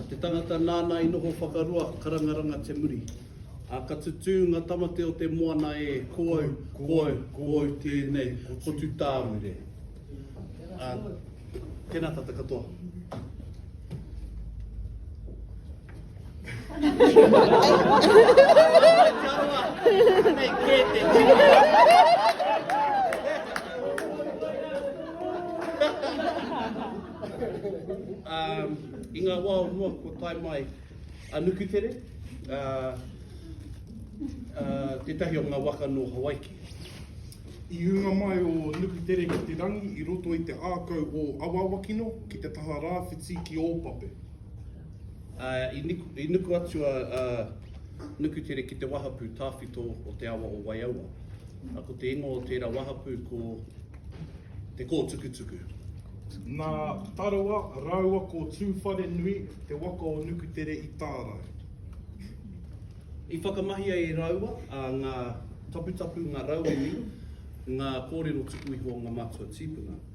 te tangata nāna i noho whakarua karangaranga te muri. A ka tutū ngā tamate o te moana e ko au, ko au, ko au tēnei, ko tu tāure. A, tēnā tata katoa. I ngā wā o mua kua tae mai a Nukutere, tētahi o ngā waka nō Hawaiki. I ūnga mai o Nukutere ki te rangi i roto i te ākau o Awawakino ki te taha rāwhiti ki Ōpape. I nuku atu a Nukutere ki te wahapū tāwhito o te awa o Waiaua. Ko te ingoa o tērā wahapū ko Te Kōtukutuku. Nā Tarawa rāua ko Tūwharenui te waka o Nukutere i tārai. I whakamahia e rāua ngā taputapu, ngā rauemi, ngā kōrero tuku iho o ngā mātua tīpuna.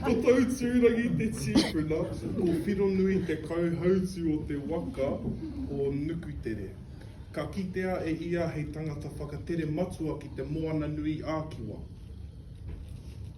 Ko tau tūrangi te tīpuna, ko Whironui te kauhautu o te waka o Nukutere. Ka kitea e ia hei tangata whakatere matua ki te Moana-nui-ā-Kiwa.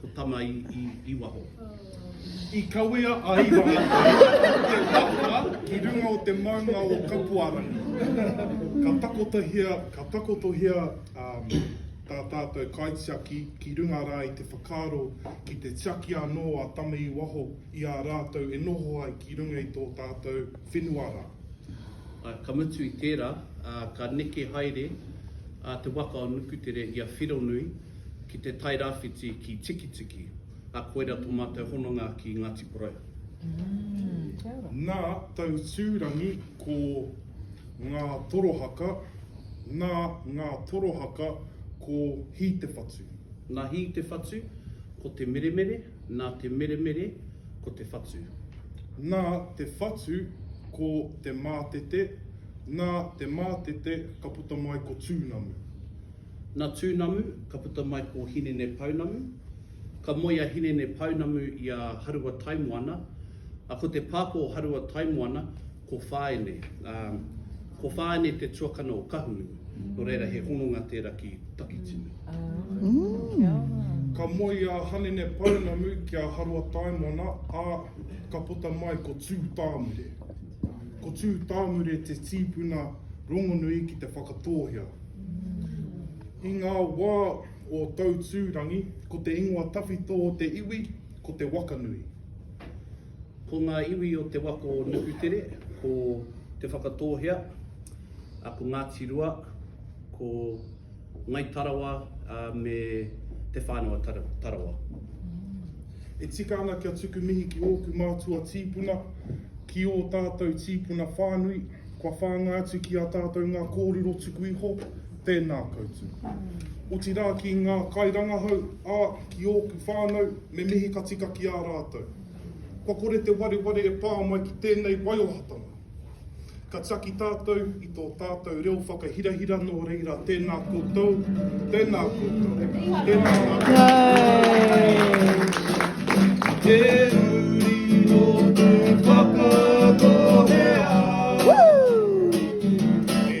Ko Tama i, i, i waho. I kawea a Iwaratai te waka ki runga o te maunga o Kapuarangi. Ka takotohia, ka takotohia um, tā tātou kaitiaki ki runga rā i te whakaaro ki te tiaki anō a Tama i waho i a rātou e noho ai ki runga i tō tātou whenua rā. Uh, ka mutu i tērā, uh, ka neke haere uh, te waka o Nukutere i a Whironui, ki te Tairawhiti ki Tikitiki, a koira to matou hononga ki Ngati Porou. Nā Tautūrangi ko Ngā Torohaka, nā Ngā Torohaka ko Hītewhatu. Nā Hītewhatu ko Te Meremere, nā Te Meremere ko Te Whatu. Nā Te Whatu ko Te Mātete, nā Te Mātete ka puta mai ko Tūnamu. Na Tunamu ka puta mai ko Hinene Pounamu. Ka moe a Hinene Pounamu i a Harua Taimoana, a ko te pāpā o Harua Taimoana ko Whaene. Ko Whaene te tuakana o Kahunu, no reira he hononga tera ki Takitimu. Ka moe a Hanene Pounamu ki a Harua Taimoana, a ka puta mai ko Tutamure. Ko Tū Tāmure te tīpuna rongonui ki Te Whakatōhea. I ngā wā o Tautūrangi, ko te ingoa tawhito o te iwi, ko Te Wakanui. Ko ngā iwi o te waka o Nukutere, ko Te Whakatōhea, ko Ngāti Rua, ko. Ngai Tarawa me Te Whānau a Tarawa. E tika ana kia tuku mihi ki ōku mātua tīpuna, ki ō tātou tīpuna whānui, kua whāngai atu ki a tātou ngā kōrero tuku iho, tēnā koutou. Otirā ki ngā kairangahau, ā, ki ōku whānau, me mihi ka tika ki a rātou. Kua kore te wareware e pā mai ki tēnei waiohatanga. Ka tiaki tātou i tō tātou reo whakahirahira nō reira tēnā koutou, tēnā koutou, tēnā koutou. Te uri no te whakatohea, e